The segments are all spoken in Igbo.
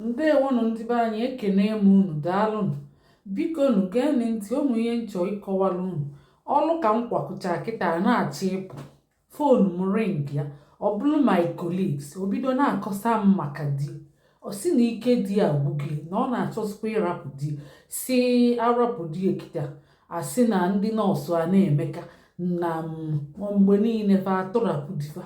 ndewonụ ndị be anyị ekene m unu daalụnụ biko nu geenụ ntị ụmụ ihe m chọ ịkọwara unu ọlụ ka m kwakọcha kịta na-achọ ịpụ fon m ringịa ọ bụrụ my colleagues o bido na-akọsa m maka di ọ sị na ike di agwụgo ya na ọ na-achọsikwa ịrapụ di sị ya rapụ di ya kịta a sị na ndị nọọsụ a na-emeka na mgbe niile fa atụrapụ di fa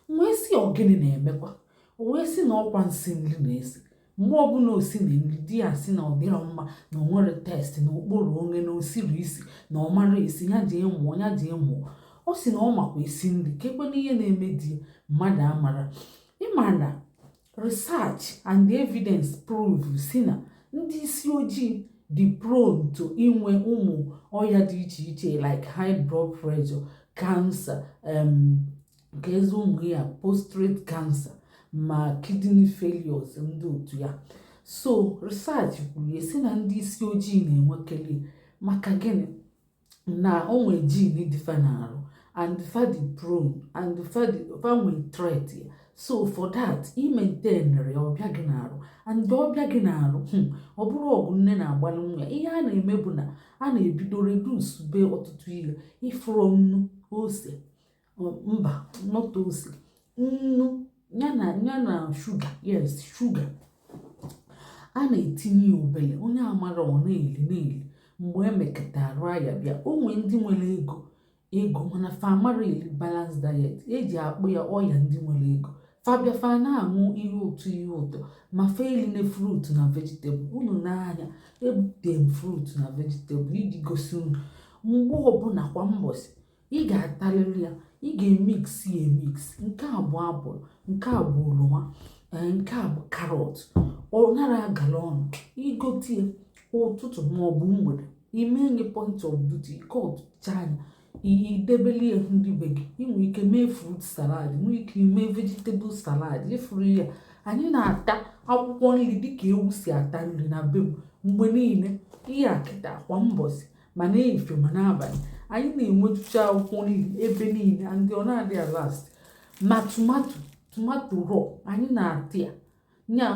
m wee sị ọ gịnị na-emekwa o wee sị na ọkwa nsi nri na-esi mgbe ọbụla o sili nri di ya sị na ọ dịrọ mma na o nwerọ taste na okporo onwe na osiri isi na ọ marọ esi ya jee mụọ ya jee mụọ ọ sị na ọ makwa esi nri kekwanụ ihe na-eme di mmadụ amarọ ị ma na research and evidence prove sị na ndị isi ojii dị prone to inwe ụmụ ọya dị iche iche like high blood pressure cancer um, keezi ụmụ ihe a postrate cancer ma kidney failures ndị otu a so research kwuru ya sị na ndị isi ojii na-enwekeli ya maka gịnị na o nwe gene dị fa n'arụ and fa dị prone and fa nwe trait ya so for that ị maintainirọ ya ọ bịa gị n'arụ and ọ bịa gị n'arụ hmm, ọ bụrọ ọgụ nne na-agbalụ nwa ya ihe a na-eme bụ na a na-ebido reducebe ọtụtụ ihe ị fụrụ nnu ose mba not ose nnu ya na shuga yes shuga a na-etinye ya obele onye amarọ ọ na-eli na-eli mgbe e meketa arụ ọya bịa o nwee ndị nwere ego ego mana fa amarọ eli balanced diet e ji akpọ ya ọya ndị nwere ego fa bịa fa na-aṅụ ihe ụtọ ihe ụtọ ma fa eline frut na vegetable unu n'anya ebute m frut na vegetable iji gosi unu mgbe ọbụla kwa mbọsị ị ga-atalili ya ị ga-emix ya emix nke a bụ apụl nke a bụ oroma eh, nke a bụ karọt ọ narọ agala ọnụ i gote ya ụtụtụ maọbụ mgbede i mee ya point of duty ị cutụchaa nya i debeli ya ndị be gị ị nwere ike mee frut salad nwee ike mee vegetable salad ị fụrụ ya anyị na-ata akwụkwọ nri dịka ewu si ata nri na be m mgbe niile ihe a kịta kwa mbọsị ma n'efifie ma n'abalị anyị na-enwetụcha akwụkwọ nri ebe niile and ọ na-adị alast ma tomato tomato raw anyị na-ata ya nya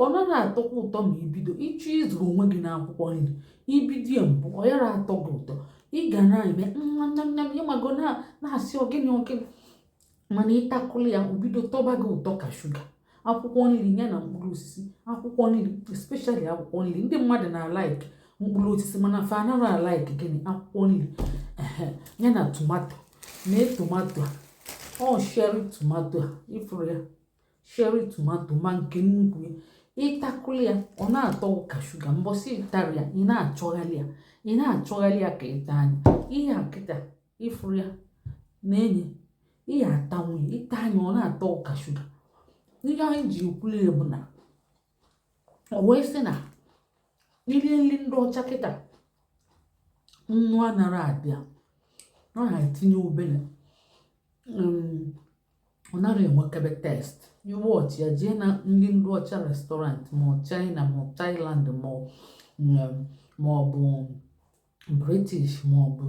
ọ narọ atọkwa ụtọ ma i bido ịchọ ịzụrụ onwe gị n'akwụkwọ nri i bido ya mbụ ọ yarọ atọ gị ụtọ ị ga na-eme nyam nyam ị mago na-asị ọ gịnị ọ gịnị mana ị takụlụ ya o bido tọba gị ụtọ ka shuga akwụkwọ nri ya na mkpụrụ osisi akwụkwọ nri especially akwụkwọ nri ndị mmadụ na-alaiki mkpụrụ osisi mana fa anarọ alaiki gịnị akwụkwọ nri ya na tomato nee tomato a ọ cherry tomato a ị fụrụ ya cherry tomato ma nke nnukwu ya ị takụli ya ọ na-atọ ka shuga mbọsị ị tara ya ị na-achọgharị ya ị na-achọgharị ya ka ị ta nya ihe a kịta ị fụrụ ya na-enye ihe ata nwunye ị ta nya ọ na-atọ ka shuga ihe anyị ji ekwuli ya bụ na o wee sị na i rie nri ndị ọcha kịta nnu anara adị ya ọ na-etinye obele um, ọ nara enwekebe taste ị watch ya jee na ndị ndị ọcha restaurant ma ọ china ma ọ thailand ma ọ ma ọ bụ british ma ọ bụ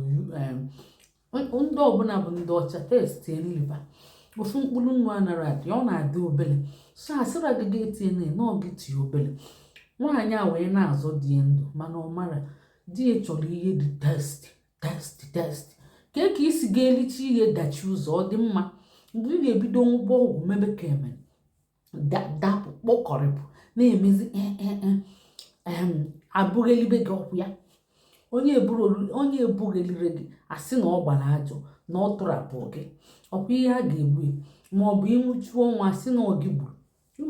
ndị ọbụla bụ ndị ọcha taste nri fa ofu mkpụrụ nnu anara adị ọ na-adị obele so asịra gị gị etinyena ọ gị tinye obele nwaanyị a wee na-azọ di ya ndụ mana ọ mara di ya chọrọ ihe dị tasty taste taste kee ka i si ga-elicha ihe dachi ụzọ ọ dị mma mgbe ị ga-ebido ṅụba ọgwụ mebe ka eme dapụ kpọkọrịpụ na-emezi e, e, e, e bughelibe gị ọkwa ya onye ebughelirọ gị a sị na ọ gbara ajọ na ọ tọrapụ gị ọkwa ihe a ga-ekwu ma ọ bụ ị nwụchuo ọnwụ a sị na ọ gị gburu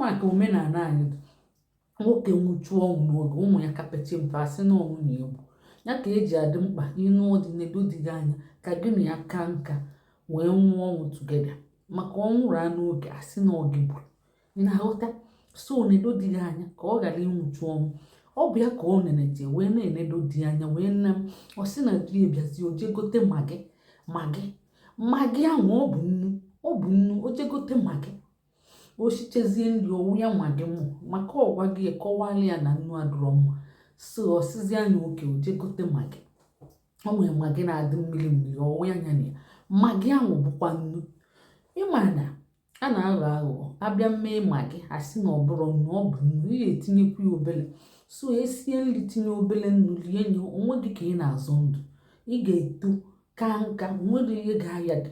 maka omenala anyị nwoke nwụchuo ọnwụ n'oge ụmụ ya ka pecha mpe a sị na ọ nwunye gburu ya ka e ji adị mkpa ị nụọ di nedo di gị anya ka gị na ya kaa nka wee nwụọ ọnwụ together maka ọ nwụraa n'oge a sị na ọ gị gburu ị na-aghọta so nedo di gị anya ka ọ ghara ịnwụchu ọnwụ ọ bụ ya ka ọ nene ji wee na-enedo di anya wee nne m ọ sị na di ebiazi o jee gote magi magi magi ahụ ọ bụ nnu ọ bụ nnu o jee gote magi o sichezie nri ọ wụ ya magi mụ maka ọkwa gị kọwara ya na nnu adịrọ mma so ọ sịzi nya okay o jee gote magi o nwere magi na-adị mmiri mmiri ọ wụa nya na ya magi ahụ bụkwa nnu ị ma na a na-aghọ aghụghọ a bịa mee magi a sị na ọ bụrọ nnu ọ bụ nnu ị ga-etinyekwu ya obele so e sie nri tinye obele nnu rie nye onwe gị ka ị na-azọ ndụ ị ga-eto kaa nka enwerọ ihe ga-aya gị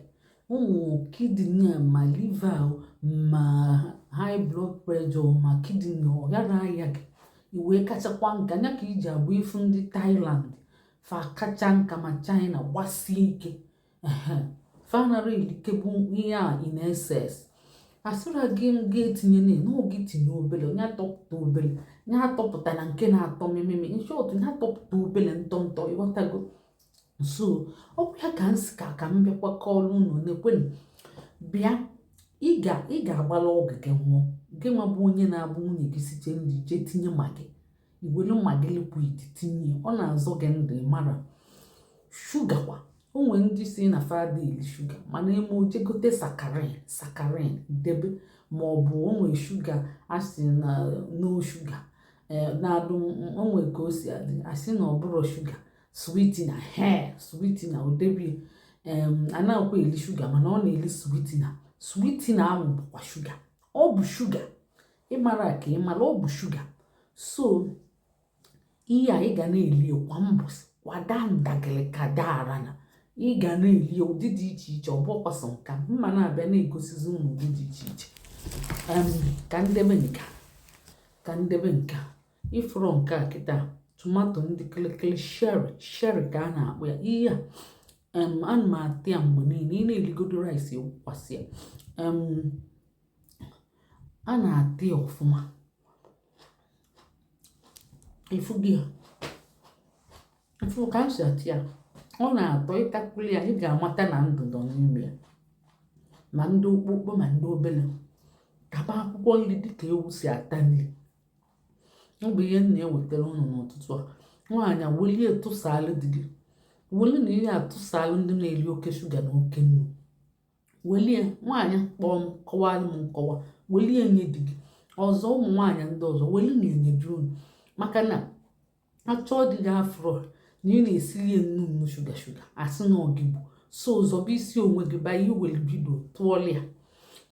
um kidney ma liva ma high blood pressure ma kidney ọ ghara aya gị i wee kachakwa nka nya ka o ji abụ ị fụ ndị Thailand fa kacha nka ma China gbasie ike fa anara erikebe ihe a in excess asịra gị m gị etinyena ọ gị tinye obele nya atọpụta obele nya atọpụtana nke na-atọ mmemme in short nya atọpụta obele ntọntọ ị ghọtago so ọ bụ ya ka m si ka ka m bịakwa kọọrọ unu nekwenu bịa ị ga-agbala ọgụ gị nwụọ gị nwa bụ onye na-abụ nwunye gị site nri jee tinye magi iwere magi liquid tinye ọ na-azọ gị ndụ mara shuga kwa o nwere ndị si na fa ada eli shuga mana eme o jee gote sakarin sakarin debe ma ọ bụ o nwere shuga asị na no shuga eh, na-adụ o nwere ka o si adị asị na ọ bụrọ shuga sweetener he sweetener o debe anaghịkwa eli shuga mana ọ na-eli sweetener sweetener ahụ bụkwa shuga ọ bụ shuga ịmara ka ịmara ọ bụ shuga so ihe a ị ga na-eli kwa mbọsị kwada ndagịrị ka daara na ị ga na-eli ụdị dị iche iche ọ bụrọkwa sọ nka m ma na-abịa na-egosizi unu ụdị dị iche iche ka m debe nka ka m debe nka ị fụrụ nke a kịta tomato ndị kịlịkịlị cherry cherry ka a na-akpọ ya ihe a ana m ata ya mgbe niile ị na-eligodo rice i wukwasị ya a na-ata ya ọfụma ị fụgo ya ị fụ ka m si ata ya ọ na-atọ ị takwuli ya ị ga-amata na ndụ nọ n'ime ya ma ndị ukwu ukwu ma ndị obele taba akwụkwọ nri dịka ewu si ata nri ọ bụ ihe m na-ewetara unu n'ụtụtụ a nwaanyị a welie tụsaalụ di gị welinụ ya tụsaalụ ndị na-eri oke shuga na oke nnu welie nwaanyị kpọọ m kọwara m nkọwa welie nye di gị ọzọ ụmụ nwaanyị ndị ọzọ welu na-enye di unu maka na achọọ di gị afụrọ na ị na-esiri ya nnu nnu shuga shuga asị na ọ gị gbu so zọba isi onwe gị by iwere video tụọlụ ya